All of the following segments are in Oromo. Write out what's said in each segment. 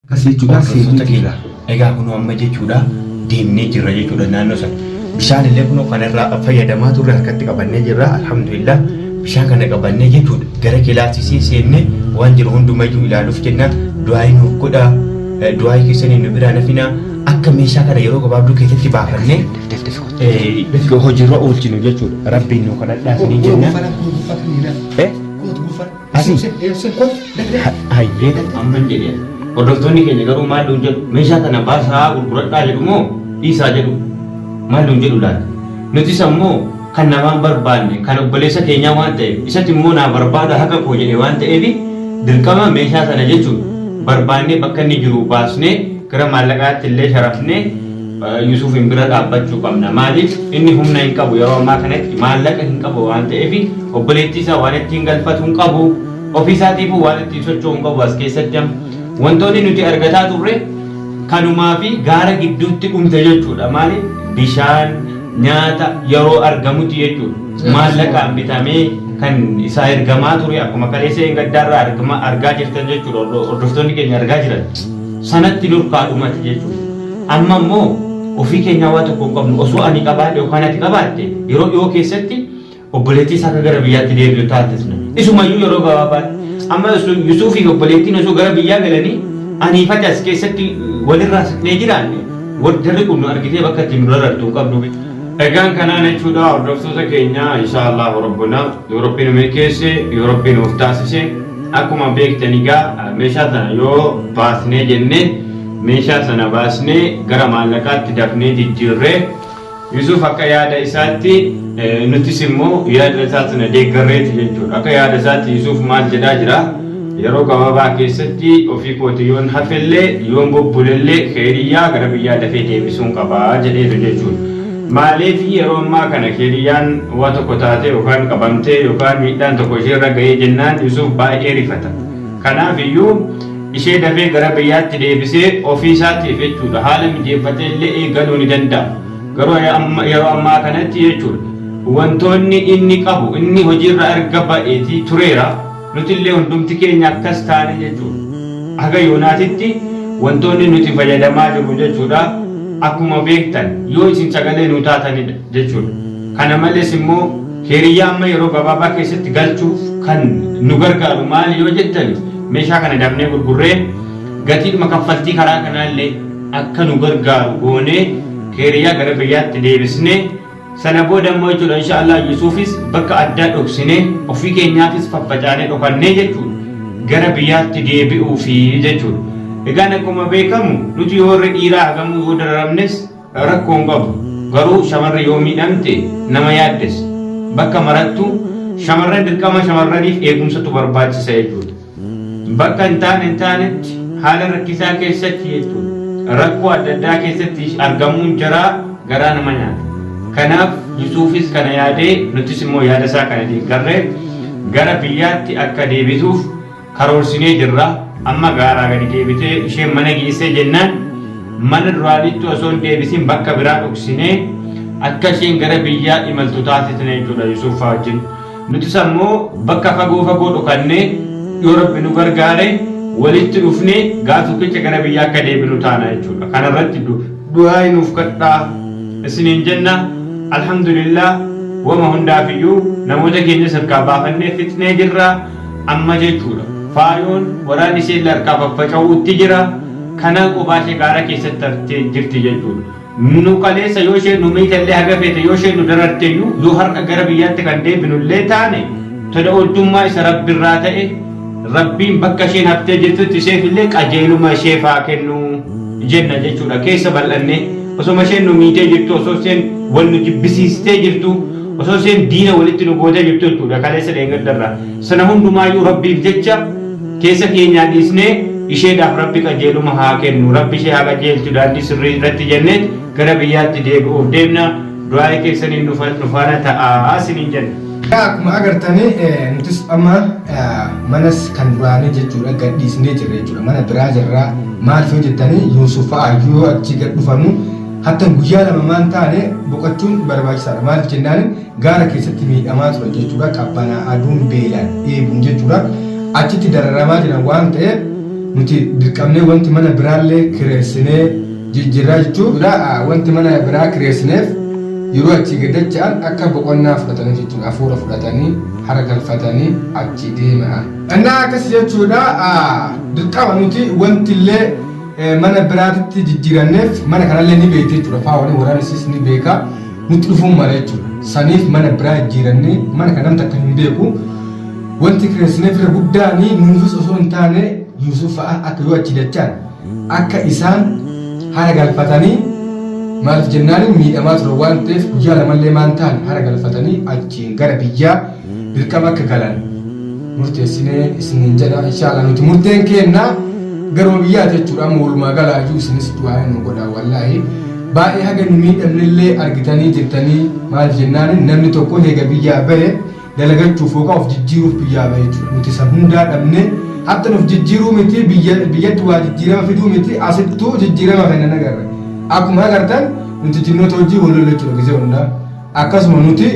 Akkas jechuudhaa seetota keela. Egaa kunoo amma jechuudhaa deemnee jirra jechuudha naannoo sana. Bishaan illee kunoo kana irraa fayyadamaa turre harkatti qabannee jirra alhamdulillah bishaan kana qabannee jechuudha gara kilaasisii seennee waan jiru hundumayyuu ilaaluuf jennaa du'aayii nuuf godhaa du'aayii keessanii nu biraa nafinaa akka meeshaa kana yeroo gabaabduu keessatti baafannee hojiirra oolchinu jechuudha rabbiin nu kadhadhaa isiniin jennaa. Eh? Asii. Hayyee. Amma hin jedhee. Hordoftoonni keenya garuu maal nuun jedhu meeshaa kana baasaa gurguradhaa jedhu moo dhiisaa jedhu maal nuun jedhu laata? Nutis ammoo kan namaan barbaanne kan obboleessa keenyaa waan ta'eef isatti immoo naa barbaada haqa koo jedhe waan ta'eef dirqama meeshaa sana jechuun barbaannee bakka inni jiru baasnee gara maallaqaatti illee sharafnee Yusufiin bira dhaabbachuu qabna. Maaliif inni humna hin qabu yeroo ammaa kanatti maallaqa hin qabu waan ta'eef obboleettii isaa waan ittiin galfatu hin qabu. Ofii isaatiifuu waan ittiin socho'u hin qabu as keessatti amma. Wantoonni nuti argataa turre kanumaa fi gaara gidduutti dhumte jechuudha. Maaliif bishaan nyaata yeroo argamutti jechuudha. Maallaqaan bitamee kan isaa ergamaa ture akkuma kaleessa hin gaddaarraa argama- argaa jirtan jechuudha. Hordoftoonni keenya argaa jiran sanatti nurkaa dhumate jechuudha. Amma immoo ofii keenyaa waa tokko hin qabnu. Osoo ani qabaadhe yookaan ati qabaatte yeroo dhiyoo keessatti obboleettii isaa akka gara biyyaatti deebi'u taasisna. Isumayyuu yeroo gabaabaatti. Amma osoo Yusuufii fi obboleettiin osoo gara biyyaa galanii anii fi ati as keessatti walirraa siqnee jiraanne jarri kun nu argitee bakka itti nu darartu hin qabdu. Egaan kanaan jechuudha hordoftoota keenya inshaa Allahu Rabbuna yoo Rabbi nu milkeesse yoo Rabbi nuuf taasise akkuma beektan egaa meeshaa sana yoo baasnee jennee Meeshaa sana baasnee gara maallaqaatti dafnee jijjiirre. Yusuuf akka yaada isaatti nutis immoo yaada isaa sana deeggarreeti jechuudha. Akka yaada isaatti Yusuuf maal jedhaa jira? Yeroo gabaabaa keessatti ofii kootii yoon hafellee yoon bubbulellee keeriyyaa gara biyyaa dafee deebisuun qaba jedheetu jechuudha. Maaliif yeroo ammaa kana keeriyyaan waa tokko taatee yookaan qabamtee yookaan miidhaan tokko isheerra ga'ee jennaan Yusuuf baay'ee rifata. Kanaaf iyyuu ishee dafee gara biyyaatti deebisee ofii isaatiif jechuudha haala mijeeffatee illee eegaluu ni danda'a. Garuu yeroo ammaa kanatti jechuudha wantoonni inni qabu inni hojiirra erga ba'eetii tureera nuti illee hundumti keenya akkas taane jechuudha. Haga yoonaatitti wantoonni nuti fayyadamaa jirru jechuudha akkuma beektan yoo isin sagalee nuu taatanidha jechuudha. Kana malees immoo. Hiriyyaa amma yeroo gabaabaa keessatti galchuuf kan nu gargaaru maali yoo jettan meeshaa kana dafnee gurgurree gatiidhuma kaffaltii karaa kanaa illee akka nu gargaaru goonee hiriyyaa gara biyyaatti deebisnee sana booda immoo jechuudha insha Allah Yusuufis bakka addaa dhoksinee ofii keenyaafis faffacaanee dhokannee jechuudha gara biyyaatti deebi'uu fi jechuudha. Egaan akkuma beekamu nuti yoo warri dhiiraa hagamuu yoo dararamnes Rakko hin qabu. Garuu shamarri yoo miidhamte nama yaaddessa. Bakka marattu shamarran dirqama shamarraniif eegumsatu barbaachisa jechuudha. Bakka hin taane hin taanetti haala rakkisaa keessatti jechuudha. Rakkoo adda addaa keessatti argamuun jaraa garaa nama nyaata. Kanaaf Yusuufis kana yaadee nutis immoo yaada isaa kana deeggarree gara biyyaatti akka deebituuf karoorsinee jirra. Amma gaaraa gadi deebitee isheen mana geessee jennaan mana duraaniitti osoo hin deebisin bakka biraa dhoksinee akka isheen gara biyyaa imaltu taasisne jechuudha Yusuufaa wajjin. Nutis ammoo bakka fagoo fagoo dhokannee yoo rabbi nu gargaare walitti dhufnee gaaf tokkicha gara biyyaa akka deebinu taana jechuudha. Kana irratti du'aayi nuuf kadhaa isiniin jenna. Alhamdulillah wama hundaafiyyuu namoota keenyas harkaa baafannee fixnee jirra. Amma jechuudha. Faayoon waraanni isheelle harkaa faffaca'uutti jira. Kanaan kophaa ishee gaara keessatti haftee jirti jechuudha. Nu kaleessa yoo isheen nu miitellee haga feete yoo isheen nu dararteyyuu yoo har'a gara biyyaatti kan deebinullee taane tola ooltummaa isa Rabbirraa ta'e Rabbiin bakka isheen haftee jirtutti isheefillee qajeeluma isheef haa kennu jenna jechuudha. Keessa bal'annee osoma isheen nu miitee jirtuu osoo isheen wal nu jibbisiistee jirtuu osoo isheen diina walitti nu gootee jirtu jechuudha kaleessa dheengaddarraa sana hundumaayyuu rabbiif jecha keessa keenyaa dhiisnee isheedhaaf rabbi qajeeluma haa kennu rabbi ishee haa qajeelchu daandii sirrii irratti jenneet gara biyyaatti deebi'uuf deemna du'aa'ee keessaniin nu fa- nu faana ta'aa isiniin jenna. Egaa akkuma agartanii eh, nutis amma eh, manas kan duraanii jechuudha gad dhiisnee jirra jechuudha mana biraa jirra maal yoo jettanii Yuusuf fa'aa yoo achi gad dhufannu Hattan guyyaa lama maa hin taane boqachuun barbaachisaadha. Maaliif jennaan gaara keessatti miidhamaa turan jechuudha. Qabbanaa, aduun, beelaan, dheebuun jechuudha. Achitti dararamaa jiran waan ta'eef nuti dirqamnee wanti mana biraallee kireessinee jijjiirraa jechuudha. Wanti mana biraa kireessineef yeroo achii gad dacha'an akka boqonnaa fudhataniif jechuudha. Hafuura fudhatanii, hara galfatanii achii deema'an. Innaa akkas jechuudha dirqama nuti wantillee mana biraatitti jijjiiranneef mana kanallee ni beekti jechuudha faawanii waraan isiis ni beeka nutti dhufuun mala jechuudha saniif mana biraa jijjiirannee mana kan namni akka hin beeku wanti kireessineef irra guddaan nuufis osoo hin taane Yuusuf fa'a akka yoo achi dachaan akka isaan hara galfatanii maaliif jennaan miidhamaa ture waan ta'eef guyyaa lamallee maan ta'an hara galfatanii achiin gara biyyaa dirqama akka galan murteessinee isiniin jedha inshaallah nuti murteen keenna garuma biyyaati jechuudha amma walumaa galaa iyyuu isinis du'aa nu godha wallaahi baay'ee haga nu miidhamnillee argitanii jirtanii maal jennaan namni tokko heega biyyaa bahe dalagachuuf yookaan of jijjiiruuf biyyaa bahe jechuudha nuti san hundaa dhabne hatta nuuf jijjiiruu miti biyya- biyyatti waa jijjiirama fiduu miti asittuu jijjiirama kennan agarra akkuma agartan nuti jinnoota hojii wal lola jechuudha gizee hundaa Akkasuma nuti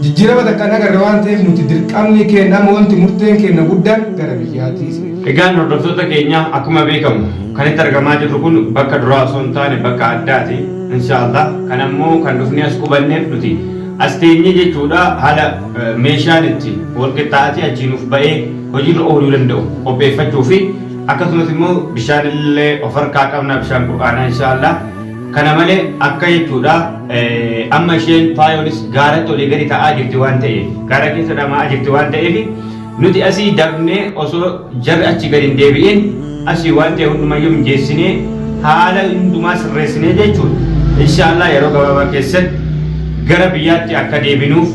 jijjiirama takka hin agarre waan ta'eef nuti dirqamni keenna amma wanti murteen keenna guddaan gara biyyaati isiniif. Egaan hordoftoota keenya akkuma beekamu kan itti argamaa jirru kun bakka duraa osoo hin taane bakka addaati. Inshaallah kan ammoo kan dhufnee as qubanneef nuti as teenyee jechuudha haala meeshaan itti wal qixxaatee achii nuuf ba'ee hojiirra ooluu danda'u qopheeffachuu fi akkasumas immoo bishaan illee of harkaa qabna bishaan qur'aanaa inshaallah. Kana malee akka jechuudha amma isheen faayoonis gaaratti olii gadi ta'aa jirti waan ta'eef gaara keessa dhama'aa jirti waan ta'eef nuti asii dafnee osoo jarri achi gadi hin deebi'in asii waan ta'e hundumayyuu mijeessinee haala hundumaa sirreessinee jechuudha. Inshaallah yeroo gabaabaa keessatti gara biyyaatti akka deebinuuf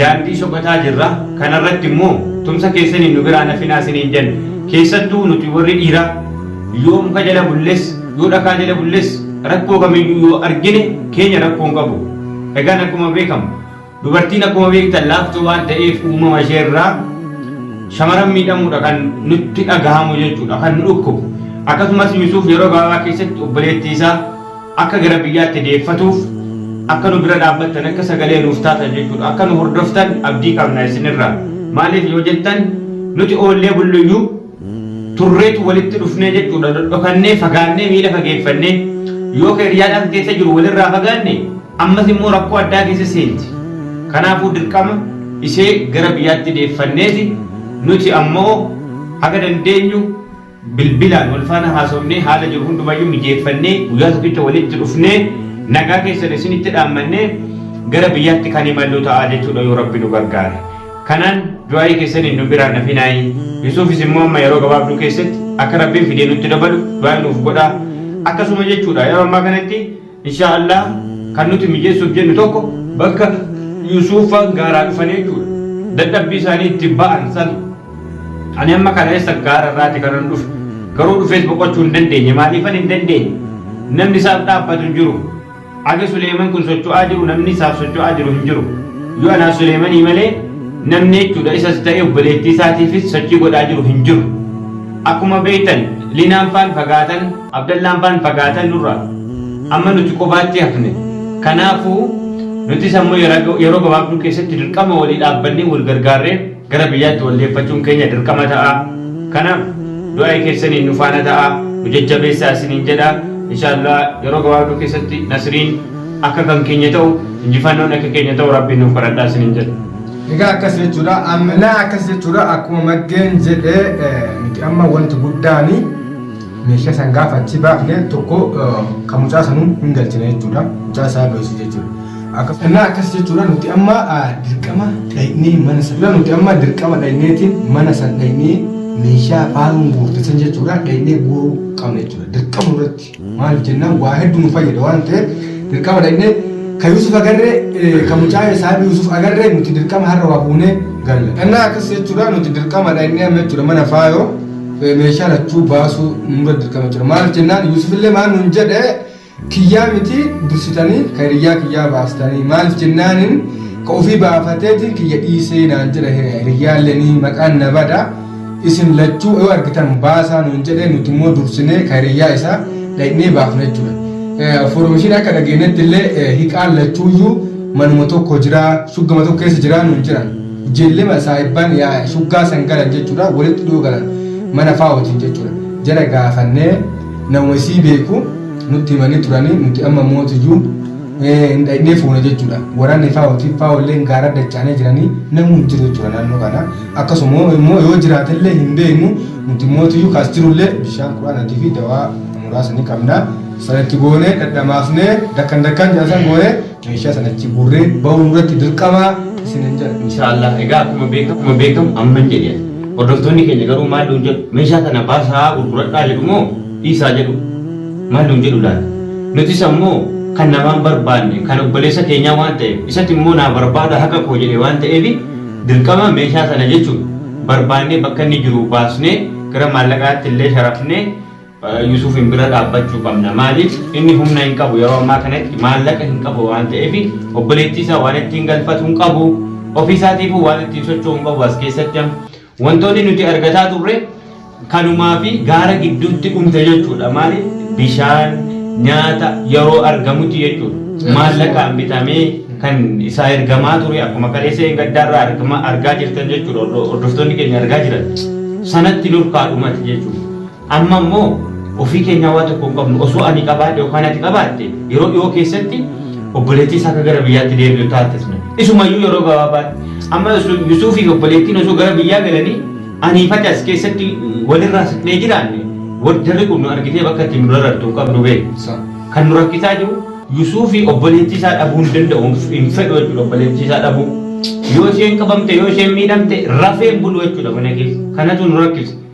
daandii soqataa jirra. Kanarratti immoo tumsa keessaniin nu biraan hafinaa isiniin jenna. Keessattuu nuti warri dhiiraa yoo muka jala bulles Yoo dhakaa jala bulles rakkoo kamiyyuu yoo argine keenya rakkoo hin qabu. Egaan akkuma beekamu dubartiin akkuma beektan laaftuu waan ta'eef uumama ishee irraa shamaran miidhamuudha kan nutti dhagahamu jechuudha kan nu dhukkubu. Akkasumas Yusuuf yeroo gabaabaa keessatti obboleettii isaa akka gara biyyaatti deeffatuuf akka nu bira dhaabbattan akka sagalee nuuf taatan jechuudha akka nu hordoftan abdii qabna isinirraa. Maaliif yoo jettan nuti oollee bulluyyuu turreetu walitti dhufnee jechuudha. Dhodhokannee, fagaannee, miila fageeffannee yoo ka hiriyaadhaan keessa jiru walirraa fagaanne ammas immoo rakkoo addaa keessa seenti. Kanaafuu dirqama ishee gara biyyaatti deeffanneeti nuti ammoo haga dandeenyu bilbilaan wal faana haasofnee haala jiru hundumayyuu mijeeffannee guyyaa tokkicha walitti dhufnee nagaa keessan isinitti dhaammannee gara biyyaatti kan imallu ta'a jechuudha yoo rabbi nu gargaare. Kanaan du'aa'ii keessaniin nu biraa hin hafinaayi. Yusuufis immoo amma yeroo gabaabduu keessatti akka Rabbiin fidee nutti dabalu du'aa'ii nuuf godhaa. Akkasuma jechuudha yeroo ammaa kanatti inshaa Allah kan nuti mijeessuuf jennu tokko bakka Yusuufaan gaaraa dhufan jechuudha. Dadhabbii isaanii itti ba'an sana. Ani amma kana eessa gaara irraati kanan dhufe. Garuu dhufees boqochuu hin dandeenye. Maaliifan hin dandeenye? Namni isaaf dhaabbatu hin jiru. Aga Suleeman kun socho'aa jiru namni isaaf socho'aa jiru hin jiru. Yoo anaa Suleemanii malee namni jechuudha isas ta'e obboleettii isaatiifis sochii godhaa jiru hin jiru. Akkuma beektan Linaan faan fagaatan, Abdallaan faan fagaatan nurraa. Amma nuti qofaatti hafne. Kanaafuu nutis ammoo yeroo gabaabduu keessatti dirqama walii dhaabbannee wal gargaarree Gara biyyaatti wal deeffachuun keenya dirqama ta'a. Kanaaf du'aayi keessaniin nu faana ta'aa, nu jajjabeessaa isiniin jedha. Inshaa Allaah yeroo gabaabduu keessatti nasriin akka kan keenya ta'u, injifannoon akka keenya ta'u Rabbiin nuuf kadhadhaa isiniin jedha. Egaa akkas jechuudha. Amnaa akkas jechuudha. Akkuma maddeen jedhe nuti amma wanti guddaani. Meeshaa san gaafa achi baafne tokko kan mucaa sanuu hin galchine jechuudha. Mucaa isaa doorsise jechuudha. Akkasuma innaa akkas jechuudha nuti amma dirqama dhaynee mana san la nuti amma dirqama dhayneetiin mana san dhaynee meeshaa faaruun guurte san jechuudha dhaynee guuruu qabna jechuudha. Dirqama irratti maaliif jennaan waa hedduu nu fayyada waan ta'eef dirqama dhaynee kan Yuusuf agarree kan mucaa isaa Yuusuf agarree nuti dirqama har'a waa buunee galla. Innaa akkas jechuudha nuti dirqama dhaynee amma jechuudha mana faayoo. meeshaa lachuu baasuu nurra dirqama jira maaliif jennaan yuusufillee maal nuun jedhe kiyyaa miti dursitanii ka hiriyyaa kiyyaa baastanii maaliif jennaanin ka ofii baafateetiin kiyya dhiisee naan jedha hiriyyaallee ni maqaan na bada isin lachuu yoo argitan baasaa nuun jedhe nuti immoo dursinee ka hiriyyaa isaa dhaqnee baafna jechuudha. Foormishiin akka dhageenyetti illee hiqaan lachuuyyuu manuma tokko jira shuggama tokko keessa jira nuun jedhan. Jellema saahibbaan yaa'e shuggaa san galan jechuudha walitti dhiyoo galan mana faa wajjin jechuudha jara gaafannee nama isii beeku nutti himanii turanii nuti amma mootiyyuu hin dhaqnee fuuna jechuudha waraanni faa wajjin faa walleen gaara dachaanee jiranii namuu hin jiru jechuudha naannoo kana akkasuma immoo yoo jiraatellee hin beeknu nuti mootiyyuu kaas jirullee bishaan quraanatii fi dawaa muraasa ni qabna sanatti goonee dhadhamaafnee dakkan dakkan jedhasan goonee Meeshaa sana achi guurree bahuu nurratti dirqama isinin jedha. Inshaallah egaa akkuma beekamu akkuma beekamu amman jedhe hordoftoonni keenya garuu maal nuun jedhu meeshaa kana baasaa gurguradhaa jedhu moo dhiisaa jedhu maal nuun jedhu laata nutis ammoo kan namaan barbaanne kan obboleessa keenyaa waan ta'eef isatti immoo naa barbaada haqa koo jedhe waan ta'eef dirqama meeshaa sana jechuun barbaannee bakka inni jiru baasnee gara maallaqaatti illee sharafnee Yusufiin bira dhaabbachuu qabna. Maaliif inni humna hin qabu yeroo ammaa kanatti maallaqa hin qabu waan ta'eef obboleettii isaa waan ittiin galfatu hin qabu. Ofii isaatiifuu waan ittiin socho'u hin qabu as keessatti amma. Wantoonni nuti argataa turre kanumaa fi gaara gidduutti dhumte jechuudha. Maaliif bishaan nyaata yeroo argamutti jechuudha. Maallaqaan bitamee kan isaa ergamaa ture akkuma kaleessa hin gaddaarraa argama argaa jirtan jechuudha. Hordoftoonni keenya argaa jiran sanatti nurkaa dhumate jechuudha. Amma immoo ofii keenyaa waa tokko hin qabnu. Osoo ani qabaadhe yookaan ati qabaatte yeroo dhiyoo keessatti obboleettii isaa akka gara biyyaatti deebi'u taasisna. Isumayyuu yeroo gabaabaatti. Amma Yusuufii fi obboleettiin osoo gara biyyaa galanii anii fi ati as keessatti walirraa siqnee jiraanne jarri kun nu argitee bakka itti nu darartu hin qabnu bee. Kan nu rakkisaa jiru Yusuufii obboleettii isaa dhabuu hin danda'u hin fedhu jechuudha obboleettii isaa dhabuu. Yoo isheen qabamte yoo isheen miidhamte rafee hin bulu jechuudha mana keessa. Kanatu nu rakkisa.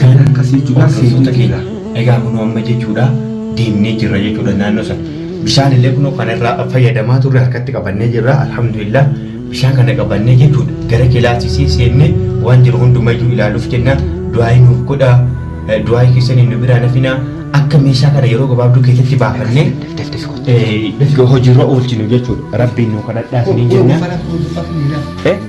Kan akkasii jechuudha seentota keenya. Egaa kunoo amma jechuudha deemnee jirra jechuudha naannoo sana. Bishaan illee kunoo kana irraa fayyadamaa turre harkatti qabannee jirra alhamdulillah. Bishaan kana qabannee jechuudha gara kilaasisii seennee waan jiru hundumayyuu ilaaluuf jenna du'aayii nuuf godha du'aayii keessaniin nu biraa nafina akka meeshaa kana yeroo gabaabduu keessatti baafannee eh, hojiirra oolchinu jechuudha rabbiin nu kadhadhaa isiniin jenna. Eh?